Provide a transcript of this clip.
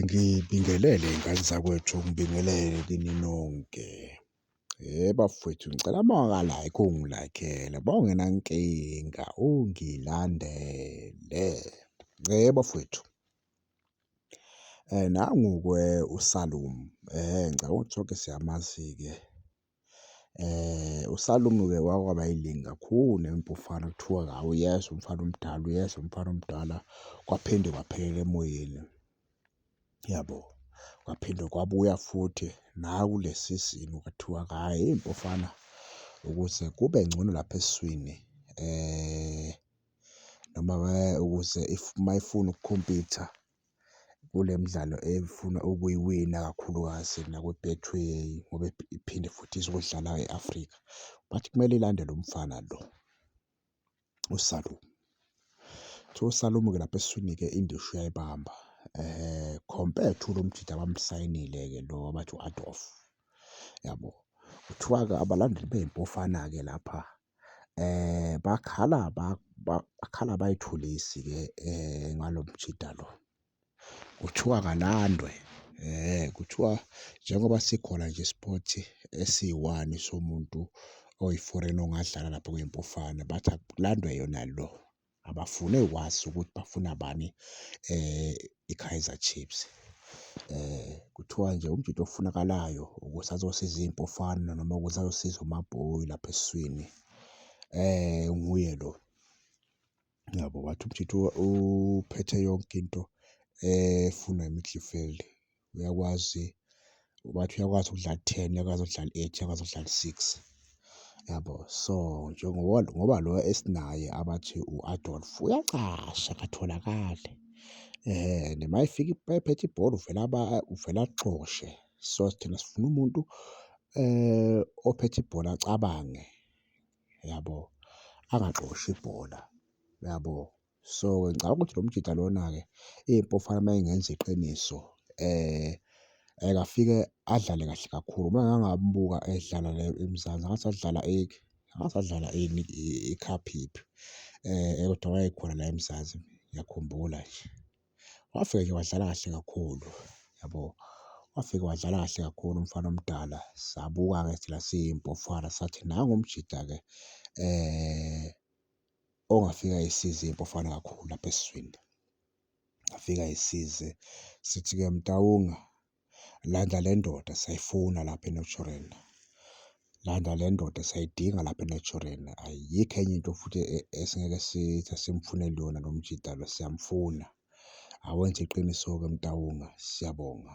Ngibingelele ngane zakwethu, ngibingelele kini nonke. Bafwethu ngicela mawaka-like ungi-like-ele mawungenankinga ungilandele bafwethu. Nangu-ke uSalum ngicabanga ukuthi sonke siyamazi-ke USalumi ke wake waba yiningi kakhulu nempufana kuthiwa hhawu uyeza umfana omdala, uyeza umfana omdala, kwaphinde kwaphelela emoyeni, yabo. Kwaphinde kwabuya futhi nakule sizini kwathiwa hhayi mfana ukuze kube ngcono lapha esiswini noma ukuze uma efuna ukukhompitha. kule midlalo efuna ukuyiwina kakhulukazi nakwi-Betway ngoba iphinde futhi izodlala e-Afrika. But kumele ilandele umfana lo uSalom. Kuthiwa uSalom-ke lapha eswini-ke indishi uyayibamba compare to lo mjita abamsayinile-ke lo abathi u-Adolf, yabo. Kuthiwa-ke abalandeli beyiMpofana-ke lapha bakhala bakhala abayithulisi-ke ngalo mjita lo. Kuthiwa kalandwe kuthiwa njengoba sikhona nje sport esiyi-one somuntu oyi-foreign ongadlala lapho kwiMpofana, bathi akulandwe yona lo. abafune ukwazi ukuthi bafuna bani um i-Kaizer Chiefs. um kuthiwa nje umjita ofunakalayo ukuthi azosiza iy'mpofana noma ukuthi azosiza uMabhoi lapha esiswini um nguye lo. Yabo wathi umjita uphethe yonke into efunwa i-midfield uyakwazi bathi uyakwazi ukudlala ten uyakwazi ukudlala eight uyakwazi ukudlala six yabo so njengoba ngoba lo esinaye abathi u-adolf uyacasha akatholakali um noma efika ephethe ibhola uvele uvele axoshe so thina sifuna umuntu um ophethe ibhola acabange yabo angaxoshi ibhola yabo So ke ngicabanga ukuthi lo mjita lona-ke iy'mpofana uma engenza iqiniso engafike adlale kahle kakhulu. Uma ngake ngambuka edlala la eMzansi ngathi adlala ngathi adlala ini ikhaphiphephu kodwa wayekhona la eMzansi ngiyakhumbula nje. Wafika nje wadlala kahle kakhulu yabo, wafika wadlala kahle kakhulu umfana omdala. Sabuka-ke thina siy'mpofana sathi nangu umjita-ke ongafika isize iBafana kakhulu lapha esizweni, afike ayisize sithi-ke Motaunga landa le ndoda siyayifuna lapha eNaturena, landa le ndoda siyayidinga lapha eNaturena. Ayikho enye into futhi esingeke sithi asimfuneli yona lo mjita lo siyamfuna. Awenze iqiniso-ke Motaunga, siyabonga.